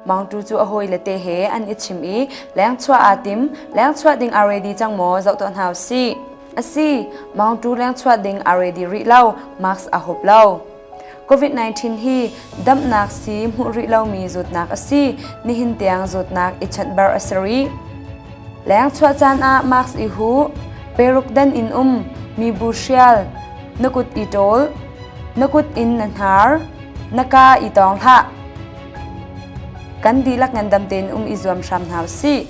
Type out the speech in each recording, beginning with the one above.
mangtu cu a hawi le te he an i chim i lengchuah aa tim lengchuah ding aa ready cang maw zoh tuah hna usih asi mangtu lengchuah ding aa ready rih lo mask a hop lo COVID-19 hi damnak sii hmuh rih lomi zawtnak a si. Nihin tiang zawtnak i chanhbar a si rih. Leng chuah caan ah mask i hu, peruk dan in um, mi bu hrial, na kut i ṭawl, na kut in na hnar, na ka i tong hlah. Kan dihlak ngandam tein um i zuam hram hna u sih.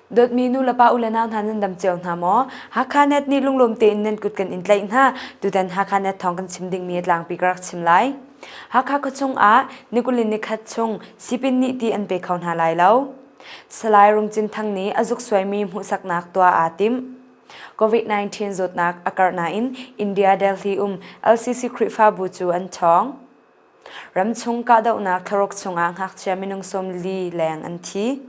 Dawtmi nulepa u le nau hna nan dam cio hna maw? Hakha net nih lunglawm tein nan kut kan in tlaih hna. Tutan Hakha net thawng kan chim dingmi a tlangpi ka rak chim lai. Hakha khuachung ah nikulin nikhat chung sipin nih ti an pe kho hna lai lo. Salai Rungcin Thang nih a zuk suaimi hmuhsaknak tuah aa tim. COVID-19 zawtnak a karh nain India Delhi um LCC Khrihfabu cu an ṭhawng. Ramchung kahdohnak thlaruk chungah ngakchia minung sawmli leng an thi.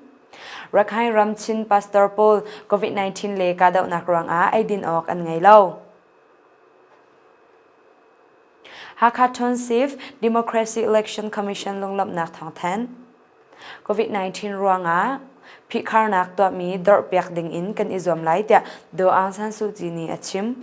Rakhine ram Chin pastor pawl COVID-19 le kahdohnak ruangah eidin awk an ngei lo. Hakha Tonsif Democracy Election Commission lunglawmhnak thawngthan. COVID-19 ruangah phihkharnak tuahmi dorhpiak ding in kan i zuam lai tiah Do Aung San Suu Kyi nih a chim.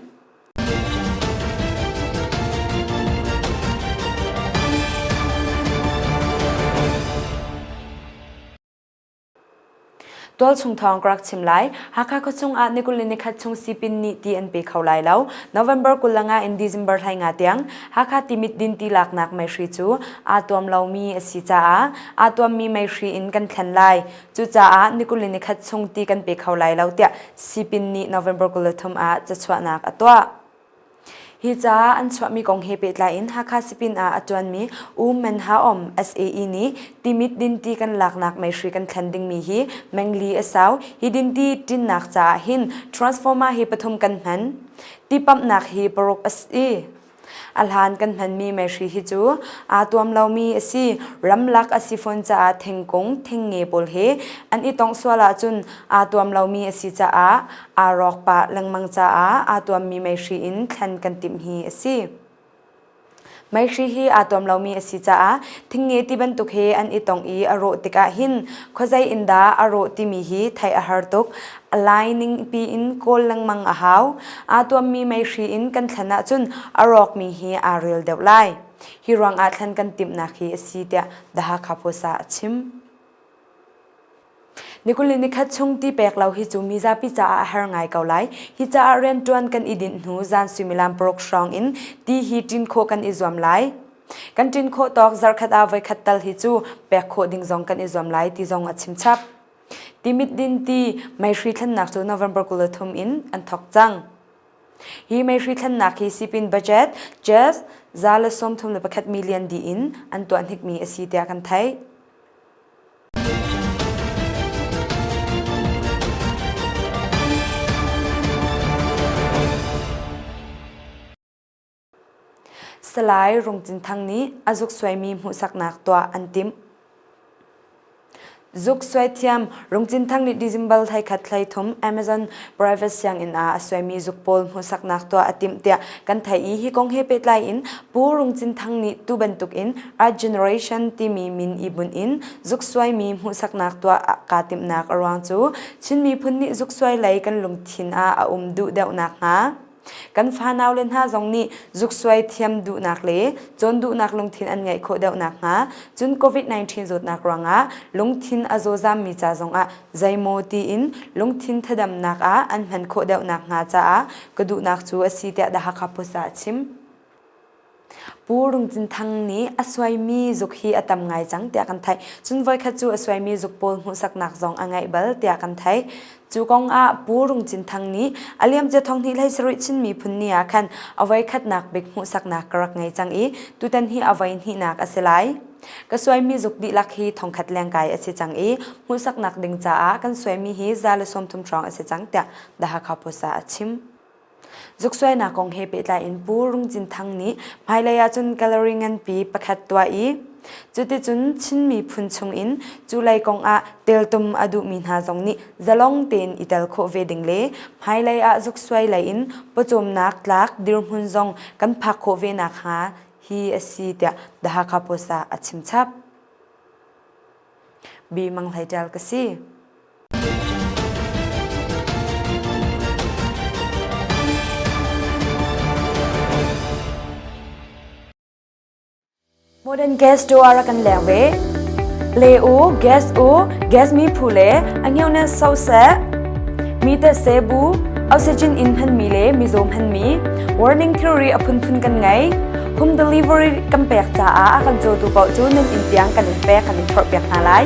Tualchung thawng ka rak chim lai. Hakha khawchung ah nikulh ni khat chung sipin ni ti an pe kho lai lo. November kulanga in December hlai nga tiang Hakha timit din ti laknak mei hri cu aa tuam lomi a si caah aa tuammi mei hri in kan thlen lai. Cucaah nikulin ni khat chung ti kan pe kho lai lo tiah Sipin nih November kul le thum ah cachuahnak a tuah. Hi ca an chuahmi kong he pehtlai in Hakha Sipin ah a ṭuanmi U Men Ha Om SAE nih Timit dinti kan laknak meihri kan thlen dingmi hi mengli a sau. Hi dinti ṭinnak caah hin transformer hi pathum kan hman. Tipamhnak hi paruk a si. A hlan kan hmanmi meihri hi cu aa tuam lomi a si. Ramlak a si fawn caah thingkung, thingnge pawl he an i tongh sual ahcun aa tuam lomi a si caah aa rawk pah lengmang caah aa tuammi meihri in thlen kan timh hi a si. Meihri hi aa tuam lomi a si caah thingnge ti bantuk he an i tongh i a rawh tikah hin khuazei in dah a rawh timi hi theih a har tuk. A lai ning piin kawl lengmang a hau. Aa tuammi meihri in kan thlen ahcun a rawkmi hi aa ril deuh lai. Hi ruangah thlen kan timhnak hi a si tiah The Hakha Post ah a chim. Nikuli nikhat chung ti pek lo hi cu mizapi caah a har ngai ko lai. Hi caah riantuan kan i dinh hnu zan suimilam paruk hrawng in ti hi tin khawh kan i zuam lai. Kan tin khawh tawk zarkhat ah voikhat tal hi cu pek khawh ding zong kan i zuam lai ti zong a chimchap. Timit dinti meihri thlennak cu November kul le thum in an thok cang. Hi meihri thlennak hi sipin budget just za le sawm thum le pakhat million di in an tuah hnikmi a si tiah kan theih. Salai Rung Cin Thang nih a zuksuaimi hmuhsaknak tuah an timh. Zuksuai thiam Rung Cin Thang nih December thleikhat thlei thum Amazon private sianginn ah a suaimi zuk pawl hmuhsaknak tuah a timh tiah kan theih i hi kong he pehtlai in Pu Rung Cin Thang nih tu bantuk in Art Generation timi min i bunh in zuksuaimi hmuhsaknak tuah kaa timhnak a ruang cu Chin miphun nih zuksuai lei kan lungthin ah a um duh deuh nakhnga. Kan fanau le hna zong nih zuksuai thiam duhnak le cawn duhnak lungthin an ngeih khawh deuh nakhnga cun COVID-19 zawtnak ruangah lungthin a zawzammi ca zongah zeimaw tiin lungthin thadamnak ah an hman khawh deuh nakhnga caah ka duhnak cu a si tiah The Hakha Post ah a chim. Pu Rungcin Thang nih a suaimi zuk hi a tam ngai cang tiah kan theih. Cun voikhat cu a suaimi zuk pawl hmuhsaknak zong a ngeih bal tiah kan theih. Cu kong ah Pu Rungcin Thang nih a liamcia thonghnih lei sarih Chin miphun ni ah khan a voikhatnak bik hmuhsaknak ka rak ngei cang i tutan hi a voihnihnak a si lai. Ka suaimi zuk dihlak hi thongkhat lengkai a si cang i hmuhsaknak ding caah kan suaimi hi za le sawmthum hrawng a si cang tiah The Hakha Post ah a chim. Zuksuainak kong he pehtlai in Pu Rung Cin Thang nih hmailei ahcun gallery nganpi pakhat tuah i cuticun Chin miphun chungin culei kong ah teltum a duhmi hna zong nih zalong tein i tel khawh ve ding le hmailei ah zuksuai lei in pawcawmnak tlak dirhmun zong kan phak khawh ve nakhnga hi a si tiah The Hakha Post ah a chimchap. Bi Mang Hlei Ṭial ka si. Modern gas door a kan leng ve. Le u, gas u, gas mi phu le angeu ne so se, mi te se bu, oxygen in han mi le mi zom han mi, warning theory a phun phun kan ngai. Home delivery kan pek ca a kan zo tu bao cu nan in tiang kan in pek kan in thor pek hna lai.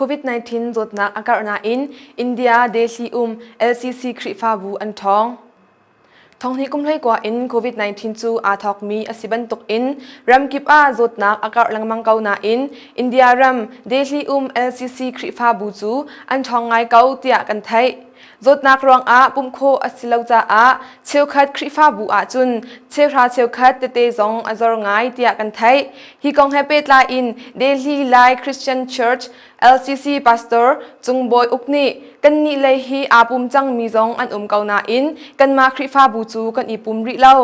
COVID-19 zawtnak a karh nain India Delhi um LCC Khrihfabu an ṭhawng. Thonghni kum hleikua in COVID-19 cu aa thawkmi a si bantukin ramkip ah zawtnak a karh lengmang ko nain India ram Delhi um LCC Khrihfabu cu an ṭhawng ngai ko tiah kan theih. Zawtnak ruangah pumh khawh a si lo caah cheukhat Khrihfabu ahcun cheuhra cheukhat tete zong a zor ngai tiah kan theih. Hi kong he pehtlai in Delhi Lai Christian Church LCC pastor Cung Bawi Uk nih kannih lei hi aa pum cangmi zong an um ko nain kanmah Khrihfabu cu kan i pum rih lo.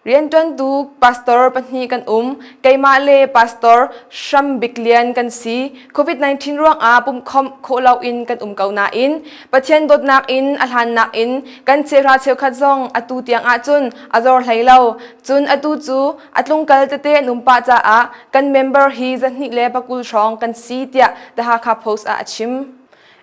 Rianṭuantu pastor pahnih kan um. Keimah le pastor Hram Bik Lian kan si. COVID-19 ruangah pumhkhawmh khawh loin kan um ko nain Pathian dawtnak in a hlannak in kan chehra cheukhat zong atu tiang ah cun a zor hlei lo. Cun atu cu a tlungkal tete an um pah caah kan member hi zahnih le pakul hrawng kan si tiah The Hakha Post ah a chim.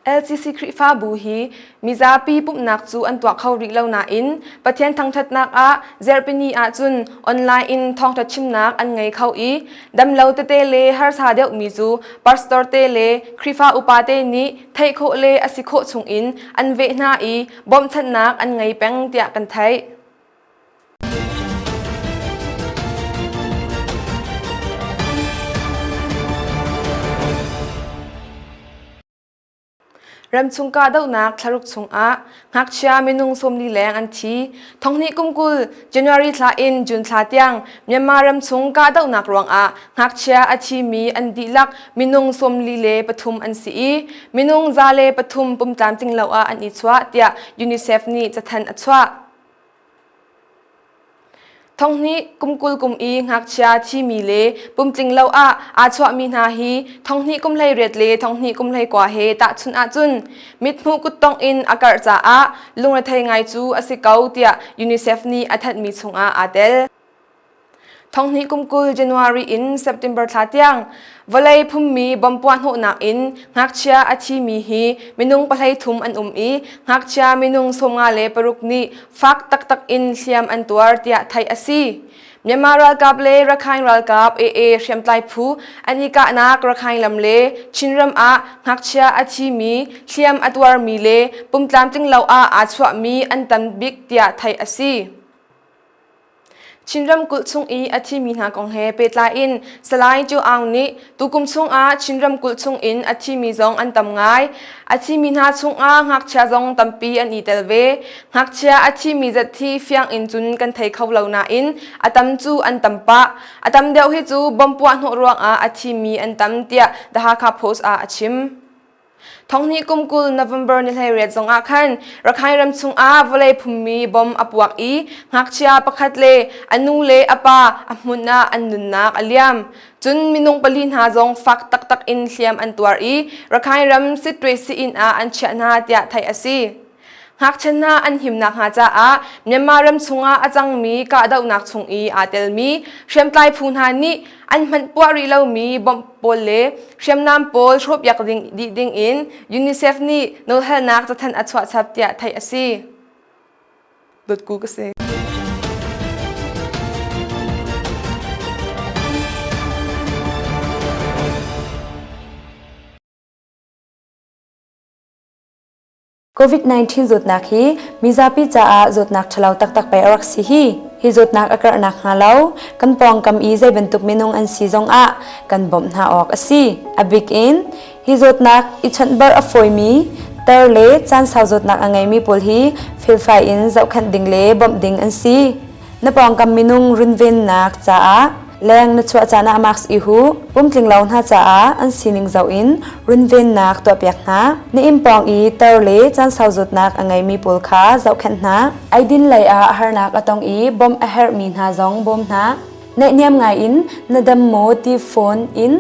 LCC Khrihfabu hi mizapi pumhnak cu an tuah kho rih lo nain Pathian thangṭhatnak ah Zerhpini ahcun online in thawngṭha chimnak an ngei kho i damlo tete le harsa deuhmi cu pastor te le Khrihfa upate nih theih khawh le a si khawh chungin an veh hna i bawmhchanhnak an ngei peng tiah kan theih. Ramchung kahdohnak thlaruk chungah ngakchia minung sawmli leng an thi. Thonghni kumkul January thla in June thla tiang Myanmar ramchung kahdohnak ruangah ngakchia a thimi an dihlak minung sawmli le pathum an si i minung za le pathum pumtlam tlinglo ah an i chuah tiah UNICEF nih cathan a chuah. Thonghnih kum kul kum i ngakchia thimi le pumtling lo ah aa chuahmi hna hi thonghnih kum hleiriat le thonghnih kum hleikua he tahchunh ahcun mithmuh kuttongh in a karh caah lungrethei ngai cu a si ko tiah UNICEF nih a thanhmi chungah aa tel. Thonghni kumkul January in September thla tiang vawlei phummi bom puahhnawhnak in ngakchia a thimi hi minung pahlei thum an um i ngakchia minung sawmnga le paruk nih fak taktak in hliam an tuar tiah theih a si. Myanmar ralkap le Rakhine ralkap AA hriamtlai phu an i kahnak Rakhine lam le Chinram ah ngakchia a thimi hliam a tuarmi le pumtlamtlinglo ah aa chuahmi an tam bik tiah theih a si. Chin ramkulh chung i a thimi hna kong he pehtlai in Salai Ṭio Aung nih tukum chungah Chin ramkulh chungin a thimi zong an tam ngai. A thimi hna chungah ngakchia zong tampi an i tel ve. Ngakchia a thimi zat hi fiang in cun kan thei kho lo nain a tam cu an tam pah. A tam deuh hi cu bomb puah hnawh ruangah a thimi an tam tiah The Hakha Post ah a chim. Thonghni kum kul November ni hleiriat zongah khan Rakhine ram chungah vawlei phummi bom a puak i ngakchia pakhat le a nu le a pa a hmun ah an nunnak a liam. Cun minung pali hna zong fak taktak in hliam an tuar i Rakhine ram Sitwe si-inn ah an chiah hna tiah theih a si. Ngakchia hna an himnak hnga caah Myanmar ram chungah a cangmi kahdohnak chung i aa telmi hriamtlai phu hna nih an hmanh puah rih lomi bom pawl le hriamnam pawl hrawhpiak ding, dih dingin UNICEF nih nawlhalnak cathanh a chuah chap tiah theih a si. Dotku ka si. COVID-19 zawtnak hi mizapi caah zawtnak ṭhalo taktak pei a rak si hi. Hi zawtnak a karhnak hnga lo kan pawngkam i zei bantuk minung an si zong ah kan bawmh hna awk a si. A bik in hi zawtnak i chawnhbar a fawimi ter le caansau zawtnak a ngeimi pawl hi felfai in zohkhenh ding le bawmh ding an si. Na pawngkam minung runvennak caah leng na chuah caan ah mask i hu. Pumtlinglo hna caah an sining zoh in runvennak tuahpiak hna. Na inn pawng i tor le caan sauzutnak a ngeimi pawl kha zohkhenh hna. Eidin lei ah harnak a tong i bawmh a herhmi hna zong bawm hna. Naihniam ngai in na dam maw ti phone in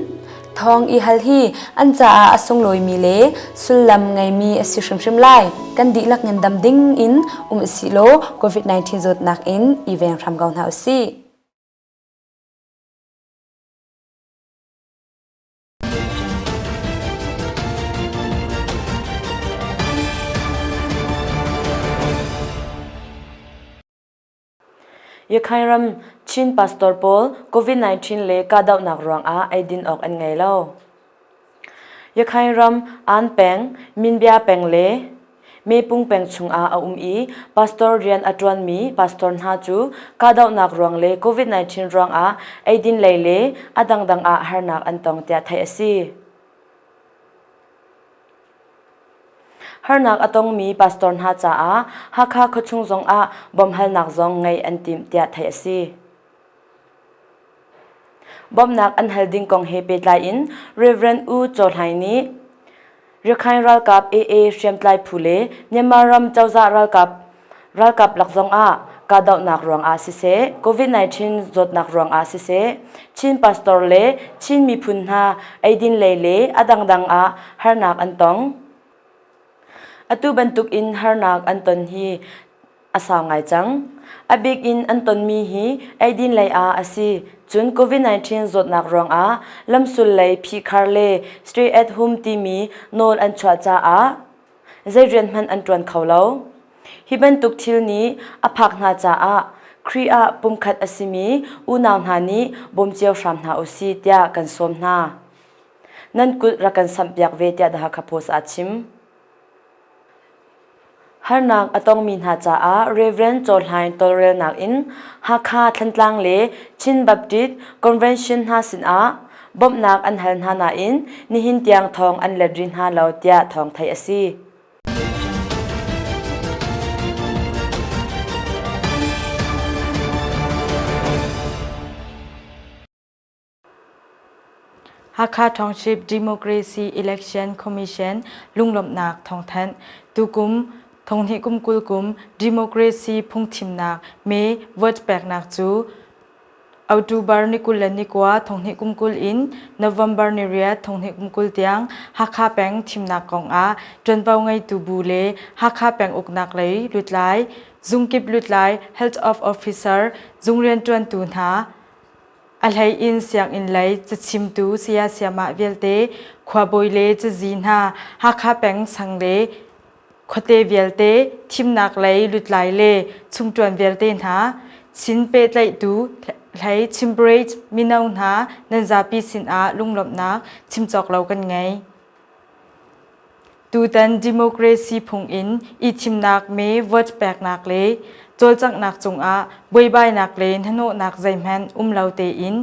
Thawng i hal hi an caah a sunglawimi le sullam ngeimi a si hrimhrim lai. Kan dihlak in dam ding in um si law COVID-19 zawtnak in i veng hram ko hna u si. Ukraine ram Chin pastor pawl COVID-19 le kahdohnak ruangah eidin awk an ngei lo. Ukraine ram An peng, Minbya peng le Mepung peng chungah a um i pastor rian a ṭuanmi pastor hna cu kahdohnak ruang le COVID-19 ruangah eidin lei le a dangdang ah harnak an tong tiah theih a si. Harnak a tongmi pastor hna caah Hakha khuachung zongah bawmhalnak zong ngeih an timh tiah theih a si. Bawmhnak an hal ding kong he pehtlai in Reverend U Caw Hlaing nih Rakhine ralkap AA hriamtlai phu le Myanmar ram cozah ralkap Ralkap lak zongah kahdohnak ruangah siseh, COVID-19 zawtnak ruangah siseh, Chin pastor le Chin miphun hna eidin lei le a dangdang ah harnak an tong. Atu bantukin harnak an ton hi a sau ngai cang. A bik in an tonmi hi eidin lei ah a si. Cun COVID-19 zawtnak ruangah lamsul lei phihkhar le stay at home timi nawl an chuah caah zei rian hmanh an ṭuan kho lo. Hi bantuk thil nih a phak hna caah Khrih ah pumkhat a simi unau hna nih bawm cio hram hna u si tiah kan sawm hna. Nan kulh rak kan samhpiak ve tiah The Hakha Post ah a chim. Harnak a tongmi hna caah Reverend Cawhlain tawlrelnak in Hakha Thantlang le Chin Baptist Convention hna sinah bawmhnak an hal hna nain nihin tiang thawng an let rih hna lo tiah thawng theih a si. Hakha Township Democracy Election Commission lunglawmhnak thawngthanh tukum thonghni kum kul kum democracy phungthimnak me vote peknak cu October ni kul le ni kua thonghnih kum kul in November ni riat thonghnih kum kul tiang Hakha peng thimnak kong ah ṭuanvo ngeitu bu le Hakha peng uknak lei lutlai, zungkip lutlai, health of officer, zung rianṭuantu hna, a hlei in sianginn lei cachimtu saya-siamah vialte, khuabawi le cazi hna, Hakha peng sang le khuate vialte thimnak lei lutlai le chungṭuan vialte hna sin pehtlaihtu hlei chimprage mino hna nan zapi sinah lunglawmhnak chim cawk lo kan ngei. Tutan democracy phungin i thimnak me vote peknak le cawlcanghnak cungah buaibainak le hnahnawhnak zeihmanh um lo tein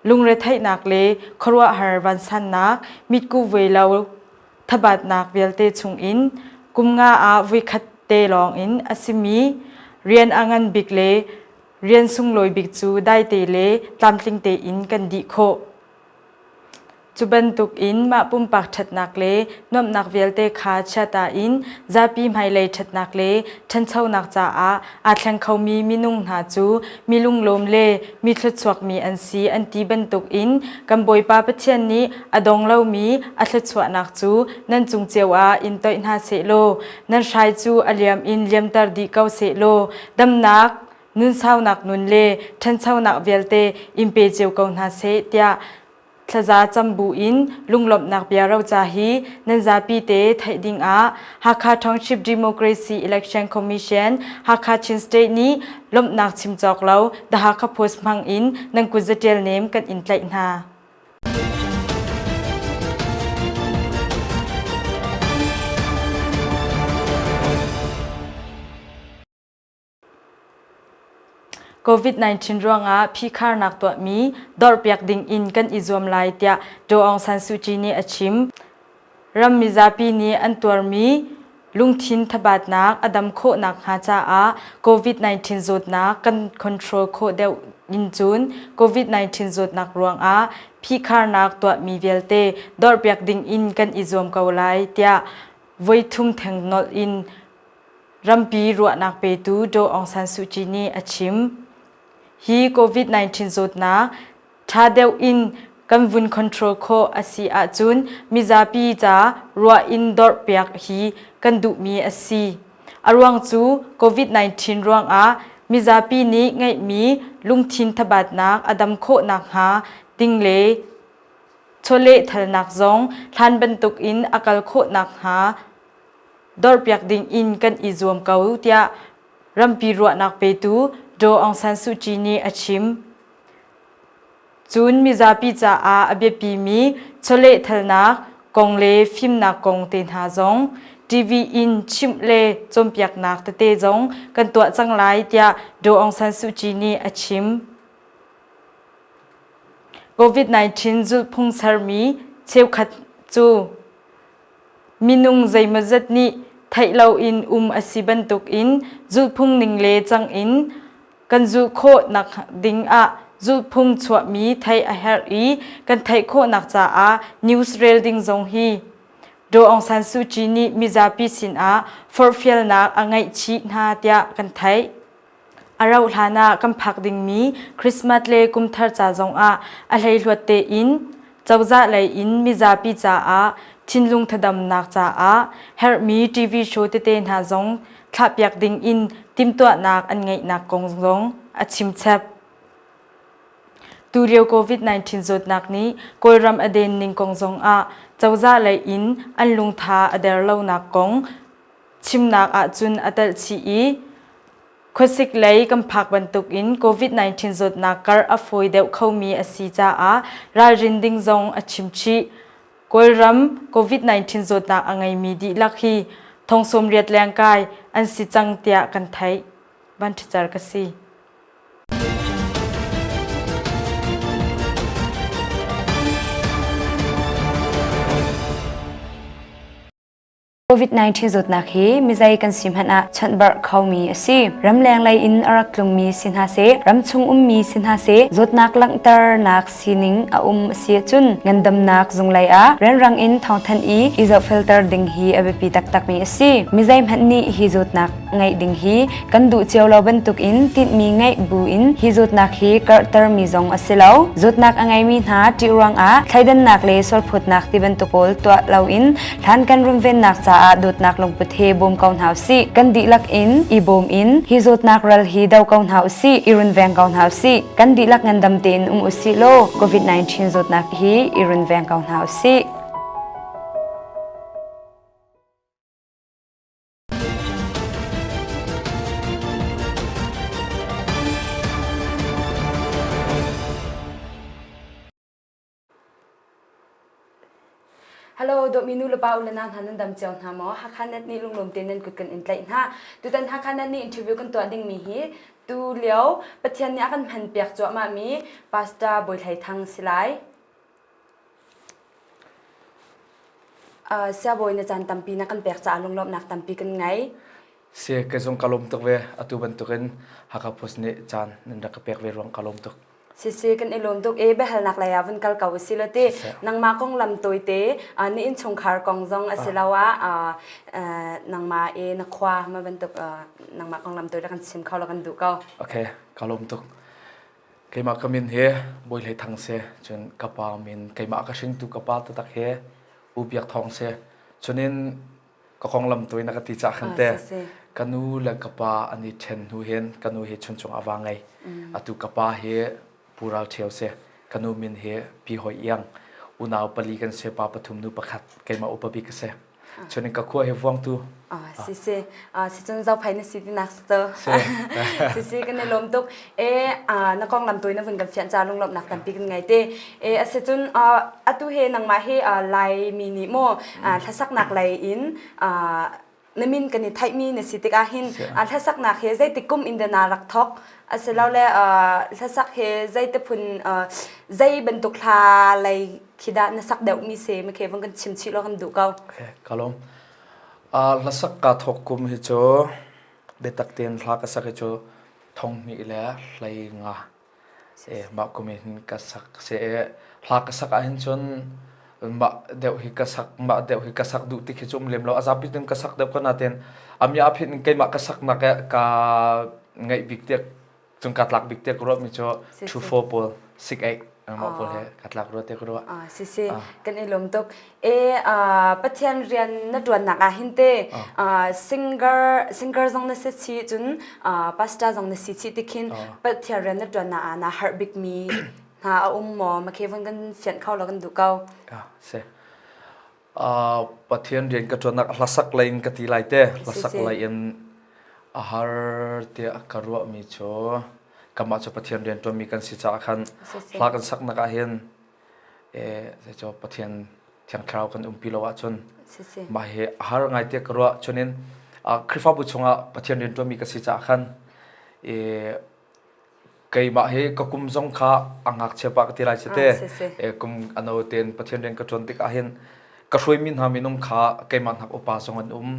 lungretheihnak le khuaruahhar vansannak mitku vuai lo thabatnak vialte chungin kum nga ah vuikhat te lawngin a simi rian a ngan bik le rian sunglawi bik cu daite le tlamtling tein kan dih khawh. Cu bantuk in mah pumpak ṭhatnak le nuamhnak vialte kha chiata in zapi hmailei ṭhatnak le ṭhanchonak caah aa thleng khomi minung hna cu mi lunglawm le mi thluachuakmi an si an ti bantukin kan Bawipa Pathian nih a dong lomi a thluachuahnak cu nan cung cio ah in toih hna sehlaw nan hrai cu a liam in liamter dih ko sehlaw damnak nunsaunak nun le ṭhanchonak vialte in pe cio ko hna seh tiah Thlaza cam buin lunglawmhnak bia roca hi nan zapi te theih ding ah Hakha Township Democracy Election Commission Hakha Chin State nih lawmhnak chim cawk lo The Hakha Post hmang in nan kutzaṭial nem kan in tlaih hna. COVID-19 ruangah phikharnak tuahmi dorhpiak dingin kan i zuam lai tiah Aung San Suu Kyi nih a chim. Ram mizapi nih an tuarmi lungthin thabatnak a dam khawhnak hnga caah COVID-19 zawtnak kan control khawh deuh in cun COVID-19 zawtnak ruangah phikharnak tuahmi vialte dorhpiak dingin kan i zuam ko lai tiah voithum theng nolh in Rampi ruahnak petu Daw Aung San Suu Kyi nih a chim. Hi COVID-19 zawtnak ṭha deuh in kan vun control khawh a si ahcun mizapi ca ruah in dorhpiak hi kan duhmi a si. A ruang cu COVID-19 ruangah mizapi nih ngeihmi lungthin thabatnak a dam khawh nakhnga ding le chawlehthalnak zong hlan bantuk in a kal khawh nakhnga dorpiak ding in kan i zuam ko tiah rampi ruahnak petu Aung San Suu Kyi nih a chim. Cun mizapi caah a biapimi chawlehthalnak kong le fimnak kong te hna zong TV in chimh le cawnpiaknak tete zong kan tuah cang lai tiah Aung San Suu Kyi nih a chim. COVID-19 zulhphung sermi cheukhat cu Minung zeimawzat nih theih loin um a si bantukin zulhphung ning le cang in kan zulh khawh nak ding ah zulhphung chuahmi theih a herh i kan theih khawhnak caah news rel ding zong hi Aung San Suu Kyi nih mizapi sinah forhfialnak a ngeih chih hna tiah kan theih. A rauh hlanah kan phak dingmi Christmas le kumthar ca zongah a hleihluat tein cozah lei in mizapi caah thinlung thadamnak caah herhmi TV show tete hna zong thlahpiak ding in timhtuahnak an ngeihnak kong zong a chimchep. Tulio COVID-19 zawtnak nih Kawlram a den ning kong zongah cozah lei in an lungtha a der lonak kong Chimnak ahcun a telh chih i khuasik lei kan phak bantuk in COVID-19 zawtnak kar a fawi deuh khomi a si caah ralrin ding zong a chim chih. Kawlram COVID-19 zawtnak a ngeimi dihlak hi thong sawmriat leng kai an si cang tiah kan theih. Banṭhicer ka si. COVID-19 zawtnak hi mizei kan si hmanh ah chawnhbarh khomi a si. Ramleng lei in a rak tlungmi si hna se, ramchung ummi si hna se, zawtnak langhternak sining a um a si ahcun ngandamnak zunglei ah renrang in thawngthanh i i zohfilter ding hi a biapi taktakmi a si. Mizei hmanh nih hi zawtnak ngeih ding hi kan duh cio lo bantuk in tinhmi ngeih bu in hi zutnak hi karhter mi zong a si lo zutnak a ngei mi hna ṭih ruang ah thleidannak le sualphutnak ti bantuk pawl tuah lo in thlan kan rumvennak caah dawtnak lungput he bawm ko hna usih kan dihlak in i bawm in hi zutnak ral hi do ko hna usih i runveng ko hna usih kan dihlak ngandam tein um usih law covid-19 zutnak hi i runveng ko hna usih Hello, dominu lepa ulana hna nan dam cio hna maw Hakha net ni lunglom te nan kut kan in tlaih hna tutan Hakha net ni interview kan tuah ding mi hi tu lio Pathian nih a kan hman piak cuah ma mi Pastor Boi Thlai Thang silai Siabawi na caan tampi na kan pek caah lunglawmhnak tampi kan ngei. Si ka zung ka lawm tuk ve atu bantukin Hakha Post nih caan nan rak ka pek ve ruang ka lawm tuk. Sisi kan i lawm tuk i biahalnak lei ah vun kal ko usih law ti nangmah kong lam tawite na innchungkhar kong zong a si lo ah nangmah i na khua ma bantuk nangmah kong lam tawi la kan chim kho la kan duh ko. Ok ka lawm tuk. keimah ka min hi Bawile Thang si. Cun ka pa min keimah ka hringtu ka pa tatak hi U Biak Thawng si. Cunin ka konglam tu in a ka ti cah khan te. Ka nu le ka pa an i ṭhen hnu hin ka nu hi chuncung a va ngei. Atu ka pa hi Pu Ral Ṭhio si. Ka nu min hi Pi Hoi Iang. Unau pali kan si, pa pathum nu pakhat. Keimah upa bik ka si. Cun ka khua he vuang tu. Si si. Si cun zau phai na si ti nak sto. Si si kan i lom tuk. E na kong ngam tui na vun kan fian ca lung lop nak tampi kan ngai te. E ase cun atu he nangmah he lai mi ni mo thlasak nak lai in na min kan i thai mi na si tik ahin thlasak nak he zeitik kum in na rak thok ase lo le thlasak he zei te phun zei bantuk hla lai khi dah na sak deuh mi se ma ke van kan chim chih lo kan duh ko okay kalom a hlasak ka thok kum hi chu biatak tin hla ka sak hi chu thong ni le hlei nga e ma kum hin ka sak se e hla ka sak a hin chun ma deuh hi ka sak ma deuh hi ka sak du ti khi chum lem lo azapi tin ka sak deuh kana ten amya phit keima ka sak na ka ka ngai bik tek Cung ka tlak bik te ko ro mi cho thu fo pol sik ai ma pol he ka tlak ro te ko ro. Ah si si kan i lom tuk e pathian rian na tuan nak ah hin te singer singer zong na se chi cun pastor zong na si chi ti khin pathian rian na tuan na na har bik mi na a um mo ma ke von kan fian khau lo kan du kau. Ah se Pathian rian ka ṭuannak a hlasak lei in ka ti lai te. Hlasak lei in a har tiah ka ruahmi cu kamah cu Pathian rian ṭuanmi kan si caah khan hla kan saknak ah hin zeicaw Pathian Thiang Thlarau kan umpi lo ahcun mah hi a har ngai tiah ka ruah. Cunin Khrihfabu chungah Pathian rian ṭuanmi ka si caah khan keimah hi ka kum zong kha a ngakchia pa ka ti lai si te kum ano ten pathian rian ka tuan tik ah hin ka hruai mi hna minung kha keimah nak upa zong an um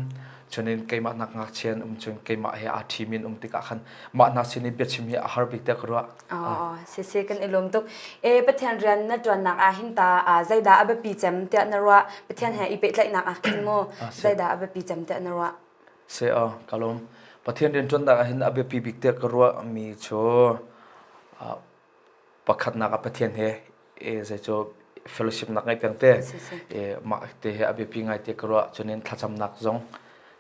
chunin keimah nak ngakchia an um chun keimah he aa thi min um tik ah khan mah hna sin in biachim hi a har bik te ka ruah oh se se kan ilum tuk e pathian rian na tuan nak a hin ta zaida abapi cem tia na ruah pathian he i pe tlai nak a kin mo zaida abapi cem tia na ruah se aw ka lawm Pathian rian ṭuannak ahhin a biapi bik tiah ka ruahmi cu pakhatnak ah Pathian he zei cu fellowship nak ngai peng te mah te he a biapi ngai te ka ruah cunin thlacamnak zong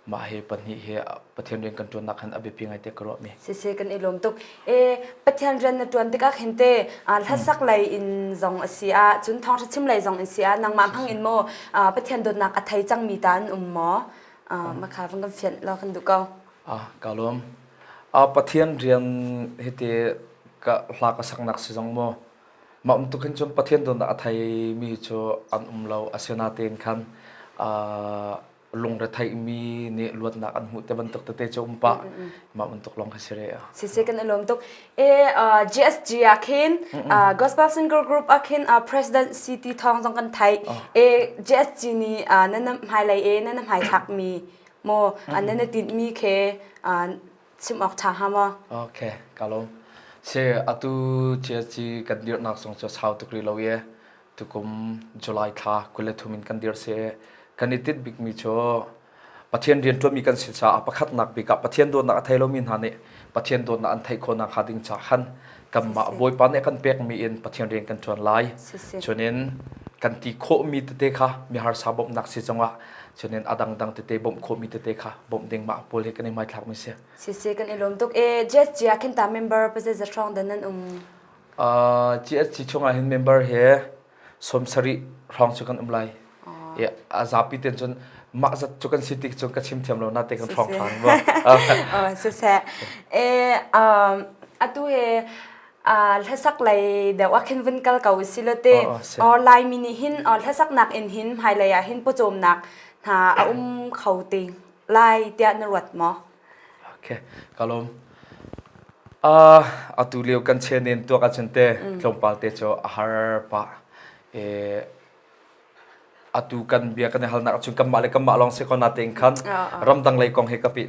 mah hi pahnih hi Pathian rian kan ṭuan nak khan a biapi ngai te ka ruah mi si se kan i lawm tuk e Pathian rian na ṭuan tikah khin te hlasak lei in zong a si a cun thawngṭha chim lei zong in si a nangmah hmang in maw Pathian dawtnak a thei cang mi ta an um maw Ah, makha vang kan fian lo kan du ko. Ah, ka lom. Ah, pathian rian hiti ka hla ka saknak si zong mo. Ma um tukin cun pathian don da athai mi cu an um lo asena ten khan ah lungre thai mi nih luatnak an hmu te bantuk te te cho umpa ma um tuk long ka sire. Si si kan alom tuk. GSG ah khin gospel singer group ah khin president si ti thawng zong kan thai e GSG ni na nam hmai lei e na nam hmai thak mi mo an na tin mi khe sim ok tha ha mo okay kalo se atu GSG kan dir nak song cho sau tukri lo ye tukum July thla kule thumin kan dir se kan itit bik mi cho Pathian rian ṭuanmi kan si caah pakhatnak bik ah Pathian dawtnak a thei lomi hna nih Pathian dawtnak an theih khawhnak hnga ding caah khan kanmah Bawipa nih a kan pekmi in Pathian rian kan ṭuan lai. Cunin kan ti khawhmi tete kha miharsa bawmhnak si zongah cunin a dangdang tete bawmh khawhmi tete kha bawmh ding mah pawl hi kan i hmaithlakmi si. Si si kan i lawm tuk. E, GSG ah khin ta member pa zeizat hrawng dan nan um? Uh, GSG chungah hin member he sawm sarih hrawng cu kan um lai i a zapi ten cun mah zat cu kan si tik cu ka chim thiam lo na te kan hrawng than siseh e um atu he a hlasak lai deuh khin vun kal ko silote online mi nih hin hlasak nak in hin hmailei ah hin pawcawm nak hna a um kho te lai tiah na ruat maw ka lawm. Uh, atu lio kan chenen tuak ahcun te tlawmpal te cu a har pah. E, atu kan bia kan i halnak ahcun kanmah le kanmah lawng si ko na tein khan ramdang lei kong he ka pi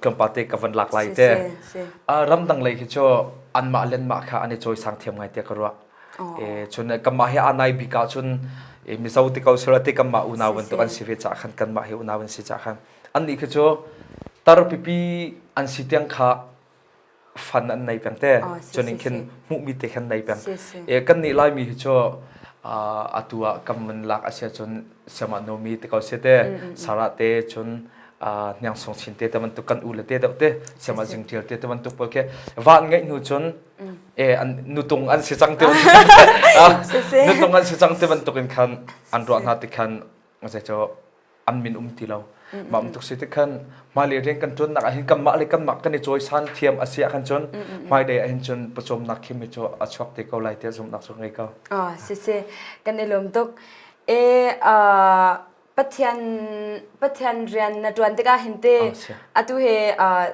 tlawmpal te ka van lak lai te. Uh, ramdang lei hi cu anmah lenmah kha an i cawi sang thiam ngai te ka ruah. E, cun kanmah he anai bik ahcun e, mizo ti ko sura ti kanmah unau bantuk an si ve caah khan kanmah he unau an si caah khan annih khi cu tar pipi an si tiang kha fan an nei peng te oh, si, cuning khin hmuhmi te khan nei peng e kan nih laimi hi cu atu ah kan man lak asia cun siama nomi te ko se te sara te cun hniang song chin te te man tu kan u le te deuh te siama jing tial te te man tu pol ke van ngai nu cun e an nutung an si cang te nutung an si cang te man tukin khan an ruah hna te khan zeicaw an min um ti lo ma um tuk si ti khan hmailei rian kan tuan nak ahhin kanmah le kanmah kan i cawisan thiam a si ah khan cun hmailei ahhin cun pawcawmnak khim hi cu a chuak te ko lai tiah zumhnak cu ngei ko oh si si kan i lawm tuk e uh, pathian pathian rian na tuan tikah hin te atu he uh,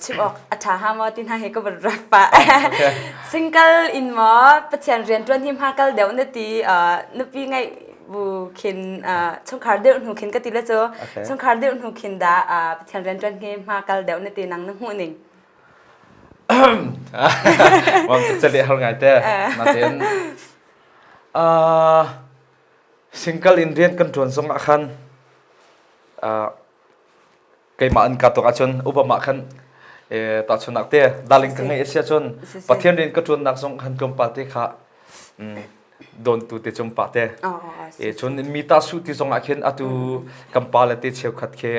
chim awk a ṭha hnga maw ti hna hi ka van ruat pah single in maw pathian rian ṭuan hi hma kal deuh na ti nupi ngaih bu khin chungkhar deuh hnu khin ka ti le cu chungkhar deuh hnu khin da pathian rian ṭuan hi hma kal deuh na ti nang na hmuh ning wang cale har ngai te natin single in rian kan ṭuan zong ah khan keimah an ka tuk ahcun upam ah khan tahchunnak te darling ka ngei asi ahcun pathian rian ka ṭuannak zong han kum pa te kha dawntu te cung pa te cun mi ta su ti zong ah khin atu kan pa le te cheukhat khi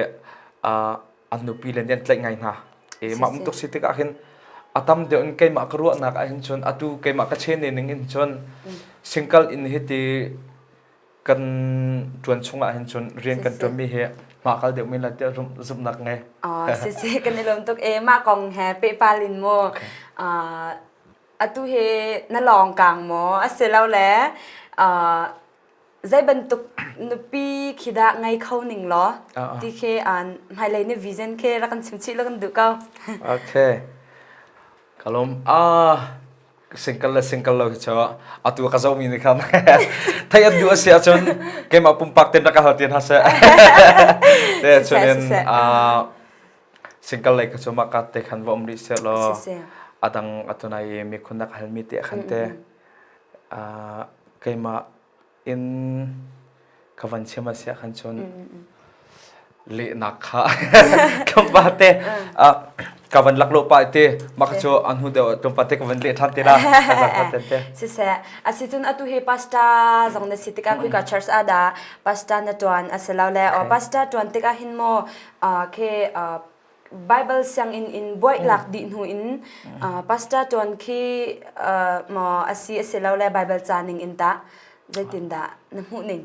an nupi le nih an tlaih ngai hna mah muk tuk si tikah khin a tam deuh in keimah ka ruahnak ah hin cun atu keimah ka chene ning in cun singkal in hi ti kan ṭuan chungah hin cun rian kan ṭuanmi hi mah kal deuhmi la tiah zumhnak ngei. Oh, si si kan i lawm tuk e mah kong he pehpal in mu. Uh, atu hi na lawng kang maw asilole uh, zei bantuk nupi khi dah ngai kho ning law ti khi an hmailei ni vision khi ra kan chim chih lo kan duh ko okay kalum ah Single le single lo hi cu atu ka zomi nih khan thei an duh a si ahcun keimah pumpak ten rak ka hal te hna seh. Te chunin single lei ka cu mah ka te khan va um rih seh law adang atunai mikhun nak halmi te khan te keimah in ka van chim a siah khan cun lehnak kha kan pa te ka van lak lo pa te maka chu an hu deu tum pa te ka van le than te la siseh asitun atu he pasta zong na si tika kui ka church ada pasta na tuan aselaw le o pasta tuan tika hin mo ke Bible sianginn in buaitlak dih hnu in pastor tuan khi maw asi asi lo le Bible ca ning in ta zeitin dah na hmuh ning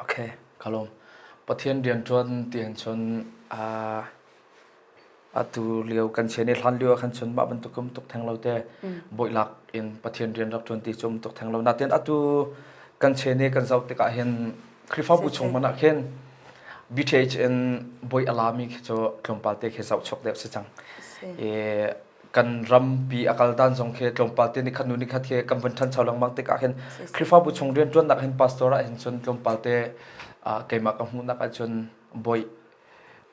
Okay kalom Pathian rian tuan tiang chun atu lio kan chen i hlan lio khan chun mah bantuk kum tuk theng lo te boilak in Pathian rian rak tuan ti chum tuk theng lo natin atu kan chen i kan zoh tikah hin Khrihfabu chung man ah khin BTH in boi alami khi cu tlawmpal te khi zoh chok deuh si cang. E kan rampi akal dan zong khi tlawmpal te ni khat nu ni khat khi kan van than chau lang mang tik ah khin Khrihfabu chung rian tuan nak hin pastor ah hin cun tlawmpal te keimah ka hmuh nak ah cun boi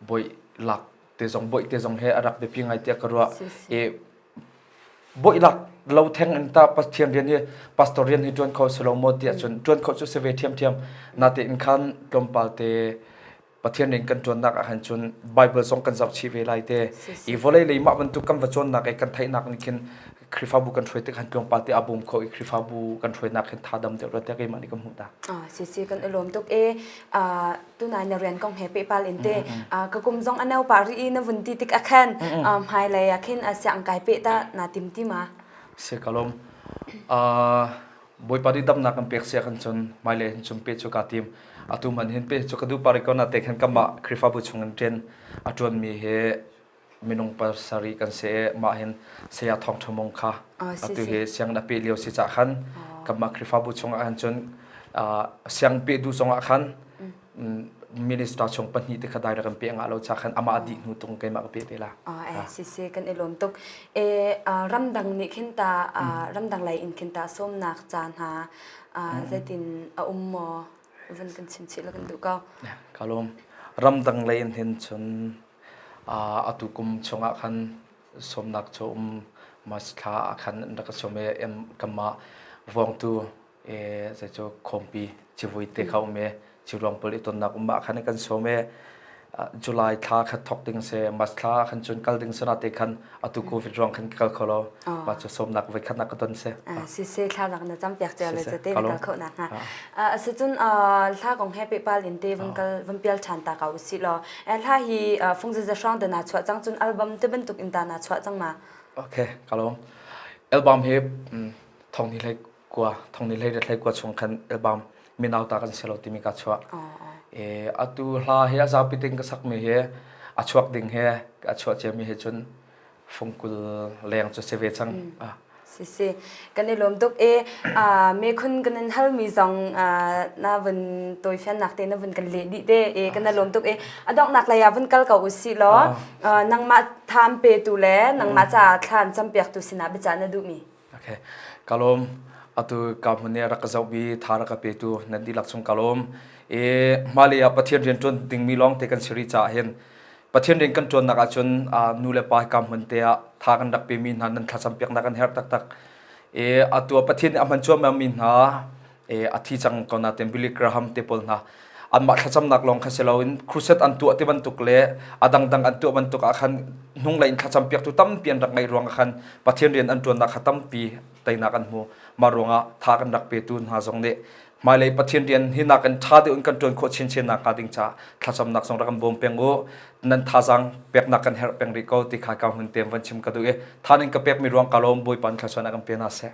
boi lak te zong boih te zong he a rak biapi ngai tiah ka ruah i boih lak lo theng in ta pathian rian hi pastor rian hi tuan kho selo mo ti ahcun tuan kho cu se ve thiam thiam na te in khan tlawmpal te pathian rin kan tuan nak ah khan cun bible zong kan zoh chi ve lai te i volei lei mah bantuk kan va cawn nak e kan thai nak ni khin khrifabu kan hroi te khan tlawmpal te abum kho i khrifabu kan hroi nak khin tha dam te ro te ke ma ni kan mu ta a si si kan alom tuk e a tunai na rian kong he pehpal in te ka kum zong a nau pa ri i na vun ti tik a khan hmai lei a khin a siang kai pe ta na tim ti ma se kalom boipa di dam na kan pek sia kan chun mai le chun pe chu ka tim atu man hin pe chu ka du pari ko na te khan kama krifa bu chung in chen atuan mi he minung pasarih kan se mah hin saya thong thamung kha atu hi siang na pe lio si cha khan kama krifabu chung ah cun siang pe du chung ah khan minister chung pahnih te khadai ra kan pe nga lo cha khan ama di hnu tung ke ma pe te la a si si kan elom tuk e ramdang ni khinta ramdang lai in khinta som nak cha na zetin a um mo van kan chin chi la kan du ka kalom ramdang lai in hin chun atu kum chungah khan sawmnak cu um mas thla ah khan an rak sawm i kanmah vawngtu e zei cu khawmpi civui te kha um i ciruang pul i tonnak um ah khan kan sawm i July thla kha thok ding se mas thla khan cun kal ding se na te khan atu covid ruang khan kal kho lo ma chu somnak voi khat nak ka ton se si se thla nak na cham piak tia le che te kal kho na ha a se chun thla kong happy pal in te vun kal vun pial chan ta ka usi lo thla hi fung za hrang da na chwa chang chun album te ban tuk in ta na chwa chang ma okay kalong album he thong ni like kua thongni lei retlei kua chung khan album minauta kan selo timi ka chuah e atu hla hi a zapi ting ka sakmi hi a chuak ding he a chuah ciami he cun fungkul leng cu se ve cang si si kan i lom tuk e me khun kan in hal mi zong na vun toi fian nak te na vun kan le di te e kan na lom tuk e adok nak la ya vun kal ko usi lo nangma tham pe tu le nangma cha thlan cham piak tu sina bicha na du mi Okay. Kalom atu kahmun i rak ka zohbi tha rak ka petu nan dihlak chung kalom i mali ah Pathian rian ṭuan dingmi lawng te kan si rih caah hin Pathian rian kan ṭuannak ahcun ah nu le pa hi kahmun te ah tha kan rak pemi hna nan thlacam piaknak kan herh taktak i atu ah Pathian nih a hman cuahmahmi hna e athi cang ko na ten Billy Graham te pawl hna anmah thlacamnak lawng kha si loin crusade an tuah ti bantuk le a dangdang an tuah bantuk ah khan hnung lei in thlacam piaktu tampi an rak ngeih ruang ah khan Pathian rian an ṭuannak kha tampi teinak an hmu mah ruang ah tha kan rak petu hna zong nih hmailei Pathian rian hi nakin ṭha deuh in kan ṭuan khawh chinchin nak hnga ding ca thlacamnak zong rak kan bawm peng u nan thazang peknak kan herh peng rih ko ti kha ka hun tem van chim ka duh i than in ka pekmi ruang ka lawm bawipa in thlachuan a kan pe hna seh